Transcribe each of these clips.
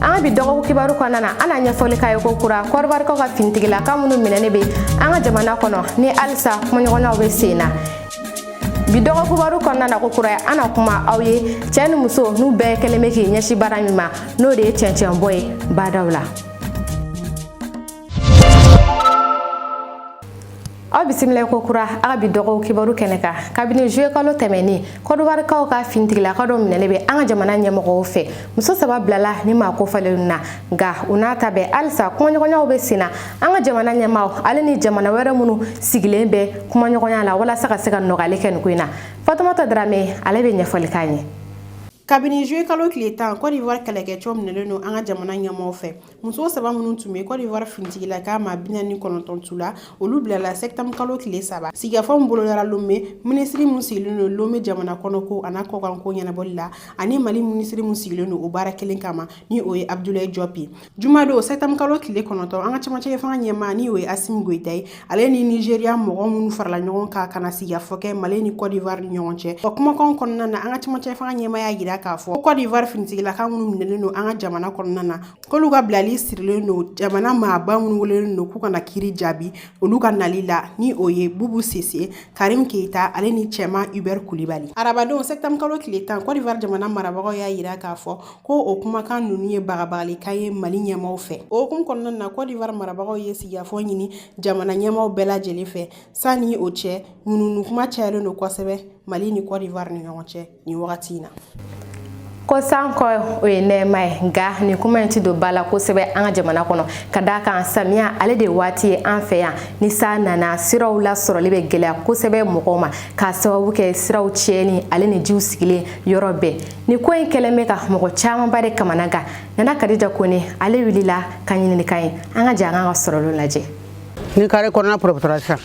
an ka bi dɔgɔ kibaru kɔnɔna na an na ɲɛfɔli k'aw ye ko kura kɔdiwarikaw ka finitigilaka minnu minɛnen be an ka jamana kɔnɔ ni halisa kumaɲɔgɔnyaw be sen na bi dɔgɔ kibaru kɔnɔna na ko kuraya an na kuma aw ye cɛ ni muso n'u bɛɛ kelen be k'i ɲɛsi baara min ma n'o de ye cɛncɛnbɔ ye badaw la aw bisimila ko kura an ka bi dɔgɔ kibaru kɛnɛ kan kabini zuye kalo tɛmɛnen kɔdiwarikaw ka finitigilaka dɔ minɛlen bɛ an ka jamana ɲɛmɔgɔw fɛ muso saba bilala nin maa kofɔlenw na nka o n'a ta bɛɛ halisa kumaɲɔgɔnyaw bɛ sen na an ka jamana ɲɛmaaw ale ni jamana wɛrɛ minnu sigilen bɛ kumaɲɔgɔnya la walasa ka se ka nɔgɔyali kɛ nin ko in na fatumata darame ale bɛ ɲɛfɔli k'an ye kabini zuye kalo tile tan kɔdiwari kɛlɛkɛcɛw minɛlen don an ka jamana ɲɛmɔgɔw fɛ muso saba minnu tun bɛ kɔdiwari finitigilaka maa bi naani ni kɔnɔntɔn tu la olu bilala sɛtanburu kalo tile saba sigikafɔ min bolodara lome minisiri min sigilen don lome jamana kɔnɔ ko an'a kɔkanko ɲɛnabɔli la ani mali minisiri min sigilen don o baara kelen kama ni o ye abdulayi jɔp ye jumadon sɛtanburu kalo tile kɔnɔntɔn an ka camancɛ fanga ɲɛmaa ni o ye asimi goyita ye ale ni nizeriya mɔgɔ minnu farala ɲɔgɔn kan ka na sigikafɔ kɛ mali ni kɔdiwari ni ɲɔgɔn cɛ o kumakan kɔnɔna na an ka camancɛ fanga ɲɛmaa y'a jira k'a fɔ ko kɔdiwari finitigilaka minnu minɛlen don an ka jamana kɔnɔna na k'olu ka bilali sirilen don jamana maaba minnu welelen don k'u ka na kiri jaabi olu ka nali la ni o ye bubu sise karim keita ale ni cɛman hubert kulibali arabadon sɛtanburu kalo tile tan kɔdiwari jamana marabagaw y'a jira k'a fɔ ko o kumakan ninnu ye bagabagalikan ye mali ɲɛmaaw fɛ o hukumu kɔnɔna na kɔdiwari marabagaw ye sigikafɔ ɲini jamana ɲɛmaaw bɛɛ lajɛlen fɛ sanni o cɛ ŋunuŋunu kuma cayalen don kosɛbɛ mali ni kɔdiwari ni ɲɔgɔn cɛ nin wagati in na ko sanko o ye nɛɛma ye nka nin kuma in ti don ba la kosɛbɛ an ka jamana kɔnɔ ka d'a kan samiya ale de waati ye an fɛ yan ni san nana siraw lasɔrɔli bɛ gɛlɛya kosɛbɛ mɔgɔw ma k'a sababu kɛ siraw tiɲɛni ale ni jiw sigilen yɔrɔ bɛɛ nin ko in kɛlen bɛ ka mɔgɔ camanba de kamanagan nana kadija kone ale wulila ka ɲinini k'an ye an ka jɛ an ka sɔrɔlenw lajɛ ni kare kɔnɔna pɔrɔpɔtɔra sisan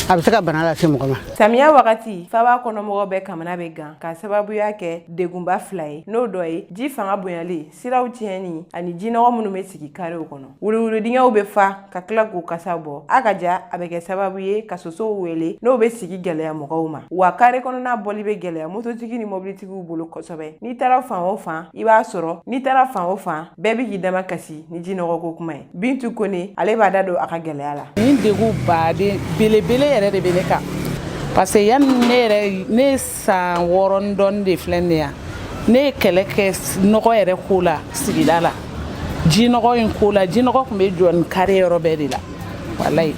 a bɛ se ka bana lase mɔgɔ ma samiya wagati faba kɔnɔmɔgɔ bɛɛ kamana bɛ gan k'a sababuya kɛ degunba fila ye n'o dɔ ye ji fanga bonyali siraw tiɲɛni ani jinɔgɔ minnu bɛ sigi karew kɔnɔ wuluwuludingɛw bɛ fa ka tila k'u kasa bɔ a ka ca a bɛ kɛ sababu ye ka sosow wele n'o bɛ sigi gɛlɛya mɔgɔw ma wa kare kɔnɔna bɔli bɛ gɛlɛya mototigi ni mɔbilitigiw bolo kosɛbɛ n'i taara fan o fan i b'a sɔrɔ n'i taara fan o fan bɛɛ bɛ k'i damakasi ni jinɔgɔko kuma ye bintu kone ale b'a da don a ka gɛlɛya la nin degunba de belebele yɛrɛ de bɛ ne kan parce que yanni ne yɛrɛ ne san wɔɔrɔ ni dɔɔni de filɛ nin yan ne ye kɛlɛ kɛ nɔgɔ yɛrɛ ko la sigida la jinɔgɔ in ko la jinɔgɔ tun bɛ jɔ nin kare yɔrɔ bɛɛ de la walayi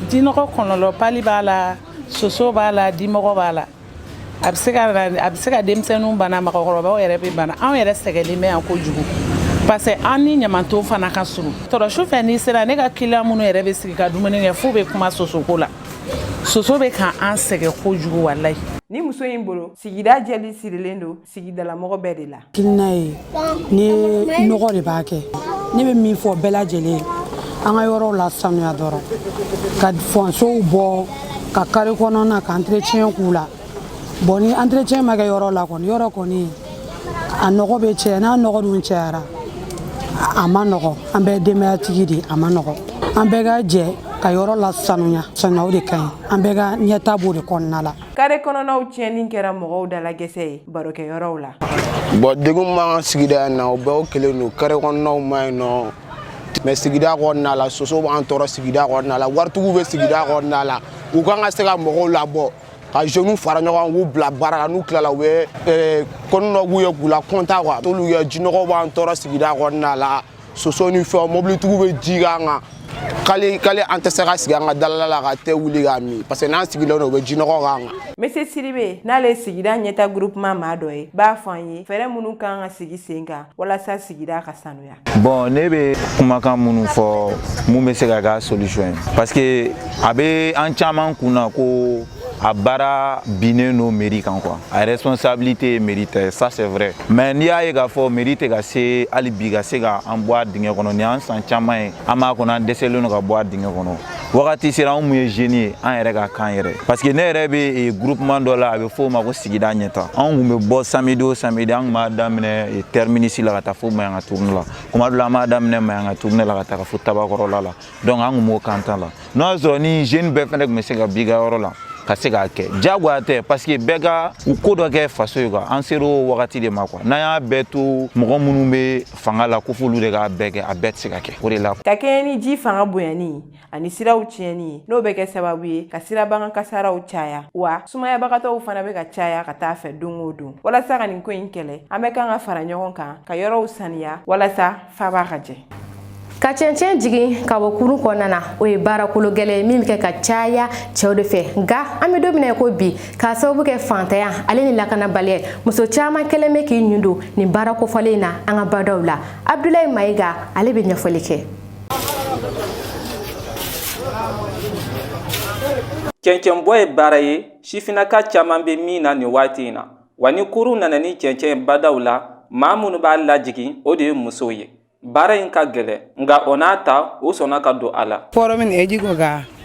jinɔgɔ kɔlɔlɔ palu b'a la soso b'a la dimɔgɔ b'a la a bɛ se ka a bɛ se ka denmisɛnninw bana mɔgɔkɔrɔbaw yɛrɛ bɛ bana anw yɛrɛ sɛgɛnlen bɛ yan kojugu parce que an ni ɲamanton fana ka surun trop su fɛ n'i sera ne ka kiliyan minnu yɛrɛ bɛ sigi ka dumuni kɛ f'u bɛ kuma sosoko la soso bɛ ka an sɛgɛn kojugu walayi nin muso in bolo sigida jɛli sirilen don sigidalamɔgɔ bɛɛ de la kilina ye ni nɔgɔ de b'a kɛ ne bɛ min fɔ bɛɛ lajɛlen an ka yɔrɔw lasanuya dɔrɔn ka fɔnsow bɔ ka kare kɔnɔna ka entretien k'u la bon ni entretien ma kɛ yɔrɔ la kɔni yɔrɔ kɔni a nɔgɔ bɛ caya n'a nɔgɔ dun cayara a man nɔgɔ an bɛɛ denbayatigi de a man nɔgɔ an bɛɛ ka jɛ ka yɔrɔ lasanuya sanuya o de ka ɲi an bɛɛ ka ɲɛtaa b'o de kɔnɔna la kare kɔnɔnaw tiɲɛni kɛra mɔgɔw dalagɛsɛ ye barokɛyɔrɔw la bon degun b'an ka sigida in na o bɛɛ o kelen don kare kɔnɔnaw man ɲi nɔgɔ bɛ sigida kɔnɔna la soso b'an tɔɔrɔ sigida kɔnɔna la waritigiw bɛ sigida kɔnɔna la u kan ka se ka mɔgɔw labɔ ka jeunes fara ɲɔgɔn k'u bila baara la n'u tilala u bɛ eh, kɔni dɔ k'u ye k'u lakɔntan quoi t'olu kɛ jinɔgɔw b'an tɔɔrɔ sigida kɔnɔna la soso ni fɛnw mobilitigiw bɛ ji k'an kan hali hali an tɛ se ka sigi an ka dalala la ka te wuli k'a min parce que n'an sigilen don u bɛ jinɔgɔ k'an kan monsieur sidibe n'ale ye sigida ɲɛtaa groupement maa dɔ ye b'a fɔ an ye fɛɛrɛ minnu kan ka sigi sen kan walasa sigida ka sanuya bon ne bɛ kumakan minnu fɔ mun bɛ se ka k'a solution ye parce que a bɛ an caman kun na ko a baara binnen don meri kan quoi a responsabilité ye meri ta ye ça c'est vrai mais n'i y'a ye k'a fɔ meri tɛ ka se hali bi ka se ka an bɔ a dingɛ kɔnɔ nin y'an san caman ye an b'a kɔnɔ an dɛsɛlen don ka bɔ a dingɛ kɔnɔ wagati sera anw min ye jeune ye an yɛrɛ ka kan yɛrɛ parce que ne yɛrɛ bɛ eh, groupement dɔ la a bɛ fɔ o ma ko sigida ɲɛtaa anw kun bɛ bɔ samedi o samedi an kun b'a daminɛ eh, terminus la ka taa fo mayanga tourne la kuma dɔ la an b'a daminɛ mayanga tourne la ka taa ka fo tabakɔrɔla la donc an kun b'o kan tan la n'o y'a sɔrɔ ni jeune bɛɛ fɛnɛ tun bɛ se ka b'i ka yɔrɔ la ka se k'a kɛ diyagoya tɛ parce que bɛɛ ka u ko dɔ kɛ faso ye quoi an ser'o wagati de ma quoi n'an y'a bɛɛ to mɔgɔ minnu bɛ fanga la ko f'olu de k'a bɛɛ kɛ a bɛɛ tɛ se ka kɛ o de la ka kɛɲɛ ni ji fanga bonyani ani siraw tiɲɛni ye n'o bɛ kɛ sababu ye ka sirabakan kasaraw caya wa sumayabagatɔw fana bɛ ka caya ka t'a fɛ don o don walasa ka nin ko in kɛlɛ an bɛɛ kan ka fara ɲɔgɔn kan ka yɔrɔw saniya walasa faaba ka jɛ ka cɛncɛn jigin ka bɔ kurun kɔnɔna na o ye baarakolo gɛlɛn ye min bɛ kɛ ka caya cɛw de fɛ nka an bɛ don min na ko bi k'a sababu kɛ fantanya ale ni lakanabaliya muso caman kɛlen bɛ k'i ɲun don nin baara kofɔlen in na an ka badaw la abudulayi mayiga ale bɛ ɲɛfɔli kɛ cɛncɛnbɔ ye baara ye sifinnaka caman bɛ min na nin waati in na wa ni kurun nana ni cɛncɛn ye badaw la maa minnu b'a lajigin o de ye musow ye baara in ka gɛlɛn nka o n'a ta u sɔnna ka don a la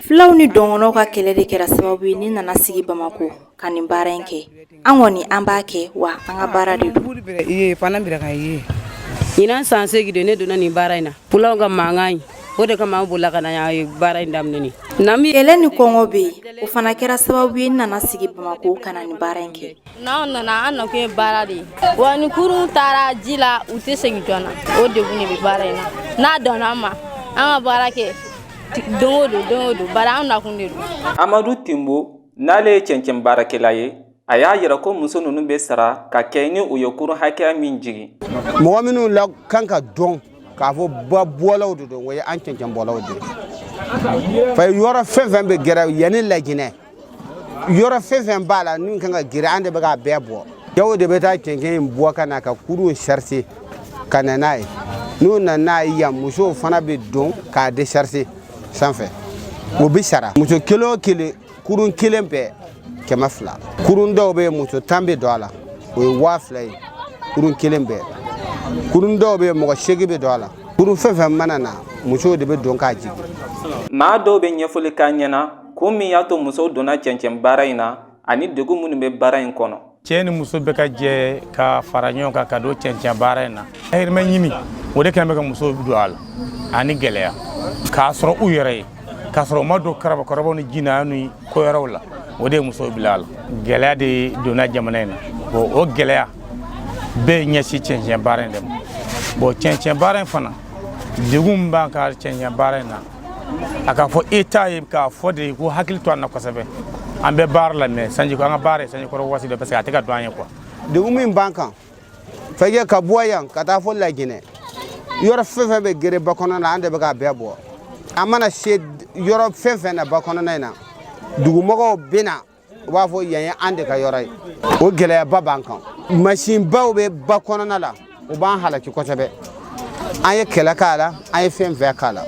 fulaw ni dɔngɔnɔw ka kɛlɛ de kɛra sababu ye ne nana sigi bamakɔ ka nin baara in kɛ an kɔni an b'a kɛ wa an ka baara de don ɲinan san seegin de ne donna nin baara in na fulaw ka mankan in o de kama an bolila ka na yan n ye baara in daminɛ kɛlɛ ni kɔngɔ bɛ yen o fana kɛra sababu ye ne nana sigi bamakɔ ka na nin baara in kɛ n'anw nana an nakun ye baara de ye wa ni kurun taara ji la u tɛ segin joona o degun de bɛ baara in na n'a tora an ma an ka baara kɛ don o don don o don bari an nakun de don. amadu tinbo n'ale ye cɛncɛn baarakɛla ye a y'a yira ko muso ninnu bɛ sara ka kɛɲɛ ni u ye kurun hakɛya min jigin. mɔgɔ minnu la kan ka dɔn k'a fɔ ba bɔlaw de don o ye an cɛncɛn bɔlaw de ye. ba yɔrɔ fɛn fɛn bɛ geren yan ni laginɛ yɔrɔ fɛn fɛn b'a la min ka kan ka geren an de bɛ k'a bɛɛ bɔ cɛw de bɛ taa cɛncɛn in bɔ ka na ka kurun sarse ka na n'a ye n'u nana n'a ye yan musow fana bɛ don k'a desarse sanfɛ o bɛ sara muso kelen o kelen kurun kelen bɛɛ kɛmɛ fila kurun dɔw bɛ yen muso tan bɛ don a la o ye waa fila ye kurun kelen bɛɛ kurun dɔw bɛ yen mɔgɔ seegin bɛ don a la kurun fɛn fɛn mana na musow de bɛ don k'a jigin maa dɔw bɛ ɲɛfɔli k'an ɲɛna ko min y'a to musow donna cɛncɛn baara in na ani degun minnu bɛ baara in kɔnɔ cɛ ni muso bɛ ka jɛ ka fara ɲɔgɔn kan ka don cɛncɛn baara in na dahirimɛ ɲini o de kɛlen bɛ ka musow don a la ani gɛlɛya k'a sɔrɔ u yɛrɛ ye k'a sɔrɔ u ma don karabakɔrɔbaw ni jɛnɛya ni ko wɛrɛw la o de ye musow bila a la gɛlɛya de donna jamana in na bon o gɛlɛya bɛɛ ɲɛsin cɛncɛn baara in de ma bon cɛncɛn baara in fana degun min b'an ka cɛncɛn baara in na a k'a fɔ état ye k'a fɔ de k'u hakili to an na kosɛbɛ an bɛ baara la mais sanji an ka baara ye sanji kɔrɔ waati dɔ parce que a tɛ ka dɔn an ye quoi degun min b'an kan fɛnkɛ ka bɔ yan ka taa fo laginɛ yɔrɔ fɛn fɛn bɛ geren ba kɔnɔna na an de bɛ k'a bɛɛ bɔ an mana se yɔrɔ fɛn fɛn na ba kɔnɔna in na dugumɔgɔw bɛ na u b'a fɔ yan ye an de ka yɔrɔ ye o gɛlɛyaba b'an kan masinbaw bɛ ba kɔnɔna la u b'an halaki kosɛbɛ an ye kɛlɛ k'a la an ye fɛn fɛn k'a la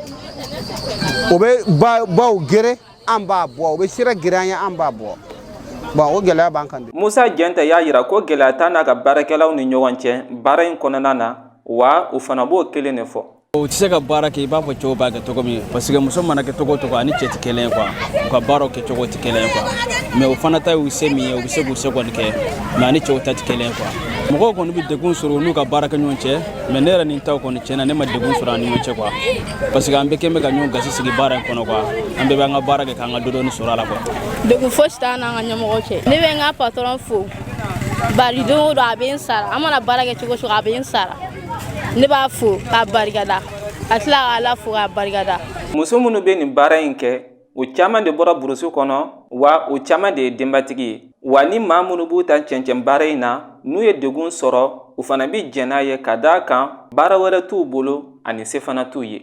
o bɛ baw geren an b'a bɔ u bɛ sira geren an ye an b'a bɔ bon o gɛlɛya b'an kan bi musa jɛnta y'a yira ko gɛlɛya t'a n'a ka baarakɛlaw ni ɲɔgɔn cɛ baara in kɔnɔna na wa u fana b'o kelen de fɔ o tɛ se ka baara kɛ i b'a fɔ cɛw b'a kɛ cogo min parce que muso mana kɛ cogo o cogo ani cɛ tɛ kelen ye quoi u ka baaraw kɛ cogo tɛ kelen ye quoi mais o fana ta y'u se min ye u bɛ se k'u se kɔni kɛ mais ani cɛw ta tɛ kelen ye quoi mɔgɔw kɔni bɛ degun sɔrɔ u n'u ka baarakɛɲɔgɔn cɛ mais ne yɛrɛ ni taw kɔni tiɲɛ na ne ma degun sɔrɔ an ni ɲɔgɔn cɛ quoi parce que an bɛɛ kɛn bɛ ka ɲɔgɔn gasi sigi baara in kɔnɔ quoi an bɛɛ bɛ an ka baara kɛ k'an ka dɔɔni sɔrɔ a la quoi. degun fosi t'an n'an ka ɲɛmɔgɔ cɛ ne bɛ n ka patɔrɔn fo bari don o don a bɛ n sara an mana baara kɛ cogo o cogo a bɛ n sara. ne b'a fo k'a barikada a tila ka Ala fo k'a barikada muso minnu bɛ nin baara in kɛ u caman de bɔra burusi kɔnɔ wa u caman de ye denbatigi ye wa ni maa minnu b'u ta cɛncɛn baara in na n'u ye degun sɔrɔ u fana bɛ jɛn n'a ye ka d'a kan baara wɛrɛ t'u bolo ani se fana t'u ye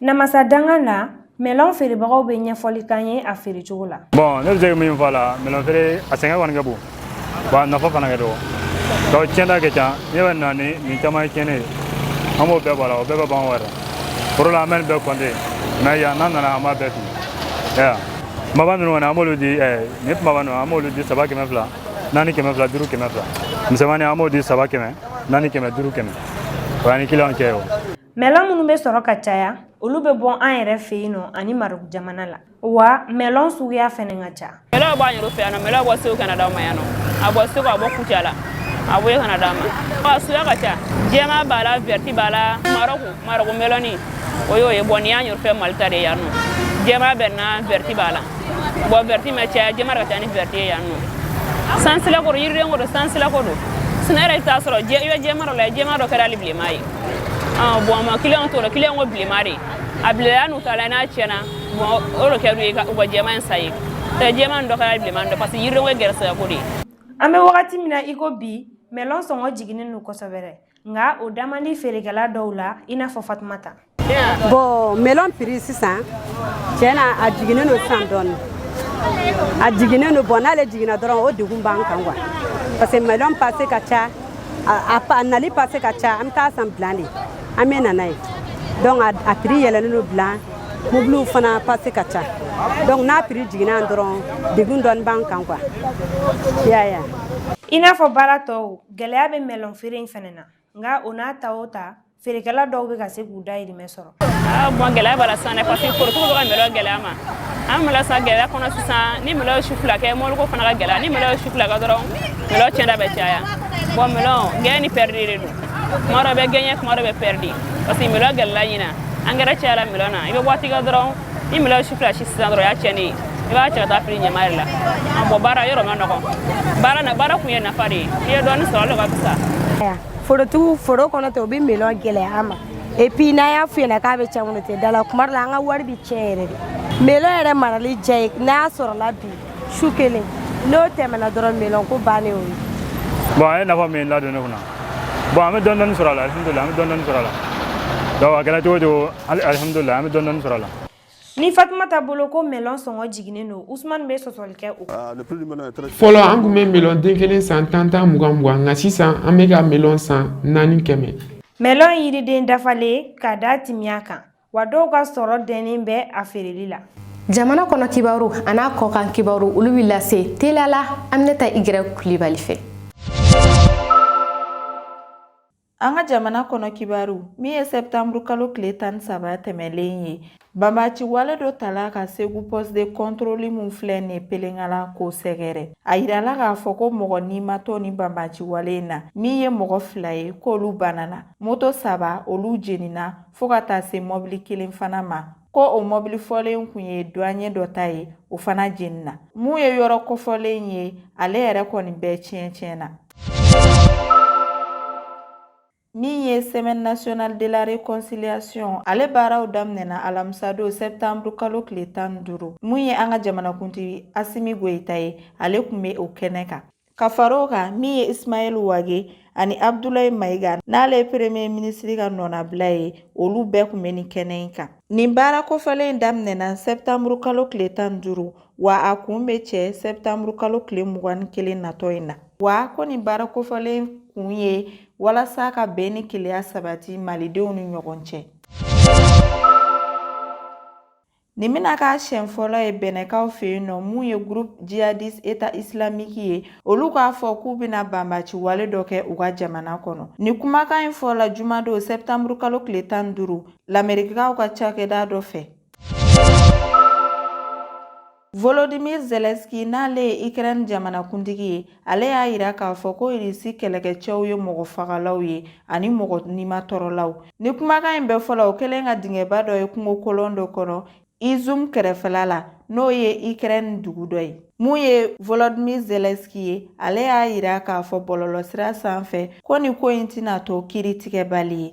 namasa danga na mɛlɔn feerebagaw bɛ ɲɛfɔli k'an ye a feere cogo la bɔn ne bɛ se min fɔ a la mɛlɔn feere a sɛgɛn kɔni ka bon bon a nafa fana ka dɔgɔ donc tiɲɛta ka ca ne bɛ na ni nin caman ye tiɲɛni ye an b'o bɛɛ bɔ a la o bɛɛ bɛ ban wɛrɛ foro la an bɛ nin bɛɛ kɔnte mais yan n'an nana an b'a bɛɛ fili ya kumaba ninnu kɔni an b'olu di nin kumaba ninnu an b'olu di saba kɛmɛ fila naani kɛmɛ fila duuru kɛmɛ fila misɛnmani an b'o di saba kɛmɛ naani kɛmɛ duuru kɛmɛ o y'an ni kiliyanw cɛ ye o Mɛlɔn minnu bɛ sɔrɔ ka caya olu bɛ bɔ an yɛrɛ fɛ yan nɔ ani Maroc jamana la wa mɛlɔn suguya fana ka ca. Mɛlɔn b'an yɛrɛ fɛ yan nɔ mɛlɔn bɛ bɔ Segu ka na d'an ma yan nɔ a bɔ Segu a bɔ Kucala a bɔ yen ka na d'an ma a suguya ka ca jɛman b'a la vɛriti b'a la Maroc Maroc mɛlɔni o y'o ye bɔn nin y'an yɛrɛ fɛ Mali ta de ye yan nɔ jɛman bɛ na vɛriti b'a la bɔn vɛriti ma caya jɛman de ka ca ni vɛriti ye yan nɔ sansilako don yiriden ko don sansilako don sinɔn yɛrɛ i bɛ t'a sɔrɔ i bɛ jɛman dɔ la jɛman dɔ kɛra hali bilenman ye. bɔn a ma kiliyanw t'o la kiliyanw ko bilenma de a bilenna n'u taara n'a tiɲɛna bɔn o de kɛra ye u ka jɛman in san ye tɛ jɛman dɔ kɛra bilenman dɔ parce que yiridenw ye gɛrɛsɛgɛ ko de ye an bɛ wagati min na i ko bi mɛlɔn sɔngɔ jiginnen don kosɛbɛ dɛ nka o da man di feerekɛla dɔw la i n'a fɔ fatumata bɔn mɛlɔn piri sisan tiɲɛ na a jiginnen don sisan dɔɔni a jiginnen don bɔn n'ale jiginna dɔrɔn o degun b'an kan quoi parce que mɛlɔn pase ka ca a nali pase ka ca an bɛ taa san bilan de an bɛ na n'a ye donc a prix yɛlɛlen don bilan mobiliw fana pase ka ca donc n'a prix jiginna dɔrɔn degun dɔɔni b'an kan quoi y'a ye i n'a fɔ baara tɔw gɛlɛya bɛ mɛlɔn feere in fana na nka o n'a ta o ta feerekɛla dɔw bɛ ka se k'u dayirimɛ sɔrɔ ah, bon gɛlɛya b'a la sisan dɛ parce que forotigiw bɛ ka mɛlɔn gɛlɛya ma an mɛlɔn san gɛlɛya kɔnɔ sisan ni mɛlɔn ye su fila kɛ mɔbiliko fana ka gɛlɛya ni mɛlɔn ye su fila kɛ dɔrɔn mɛlɔn tiɲɛta bɛ caya bon mɛlɔn gɛɲɛ ni pɛridi de don kuma dɔ bɛ gɛɲɛ kuma dɔ bɛ pɛridi parce que mɛlɔn gɛlɛla ɲina angɛrɛ cayala mɛlɔn na i bɛ waati kɛ dɔrɔn ni mɛlɔn ye su fila si sisan dɔrɔn o y'a tiɲɛni ye i b'a cɛ ka taa fili ɲaman de la bɔn baara yɔrɔ man nɔgɔn baara na baara kun ye nafa de ye i ye dɔɔni sɔrɔ o de ka fisa forotigiw foro kɔnɔ tɛ u bɛ melɔn gɛlɛya an ma epi n'an y'a f'u ɲɛna k'a bɛ cɛn kɔnɔ tɛ da la kuma dɔ la an ka wari bɛ tiɲɛ yɛrɛ de melɔn yɛrɛ marali diya ye n'a y'a sɔrɔla bi su kelen n'o tɛmɛna dɔrɔn melɔn ko bannen o ye bɔn a ye nafa min ladon ne kunna bɔn an bɛ dɔɔni dɔɔni sɔrɔ a la alihamudulila an bɛ dɔɔni dɔɔni sɔrɔ a la donc a kɛra cogo o cogo alihamudulila an bɛ dɔɔni dɔɔni sɔrɔ a la Ni fatumata bolo ko melɔn sɔngɔ jiginnen don usman bɛ sɔsɔli kɛ o fɔlɔ an tun bɛ melɔn den kelen san tan tan mugan mugan nka sisan an bɛ ka melɔn san naani kɛmɛ melɔn yiriden dafalen ka da timiya kan wa dɔw ka sɔrɔ dɛnnen bɛ a feereli la jamana kɔnɔ kibaru an'a kɔkan kibaru olu bɛ lase teliya la aminata igirɛ kulibali fɛ An ka jamana kɔnɔ kibaru min ye sɛtanburu kalo tile tan ni saba tɛmɛnlen ye banbaci wale dɔ tala ka segu poste de contrôle min filɛ nin pelengana k'o sɛgɛrɛ a jirala k'a fɔ ko mɔgɔ ni ma to nin banbaci wale in na min ye mɔgɔ fila ye k'olu banana moto saba olu jeninina fo ka taa se mɔbili kelen fana ma ko o mɔbili fɔlen tun ye duanye dɔ ta ye o fana jeninina mun ye yɔrɔ kofɔlen ye ale yɛrɛ kɔni bɛɛ tiɲɛtiɲɛna min ye semaine nationale de la réconciliation ale baaraw daminɛna alamisa don septembre kalo tile tan ni duuru mun ye an ka jamanakuntigi asimi goyita ye ale kun be o kɛnɛ kan ka far'o kan min ye ismaɛl wage ani abdulayi mayiga n'ale ye premier minisiri ka nɔnabila ye olu bɛɛ kun be nin kɛnɛ in kan nin baara kofɔlen daminɛna septembre kalo tile tan ni duuru Wa a kun bɛ cɛ sɛtanburu kalo tile mugan ni kelen natɔ in na wa ko nin baara kofɔlen kun ye walasa ka bɛn ni kelenya sabati malidenw ni ɲɔgɔn cɛ nin bɛna k'a siɲɛ fɔlɔ ye bɛnɛkaw fɛ yen nɔ mun ye groupe jihadiste état islamique ye olu k'a fɔ k'u bɛna banbaci wale dɔ kɛ u ka jamana kɔnɔ nin kumakan in fɔla jumadon sɛtanburu kalo tile tan ni duuru lamerikikaw ka cakɛda dɔ fɛ Volodymyr Zelensky n'ale ye Ukraine jamanakuntigi ye, ale y'a jira k'a fɔ ko Irisi kɛlɛkɛcɛw ye mɔgɔ fagalaw ye ani mɔgɔ nimatɔɔrɔlaw. Nin kumakan in bɛɛ fɔla, o kɛlen ka dingɛba dɔ ye kungo kolon dɔ kɔnɔ Izum kɛrɛfɛla la, n'o ye Ukraine dugu dɔ ye. Mun ye Volodymyr Zelensky ye, ale y'a jira k'a fɔ bɔlɔlɔsira sanfɛ ko nin ko in tɛna to kiiritigɛbali ye.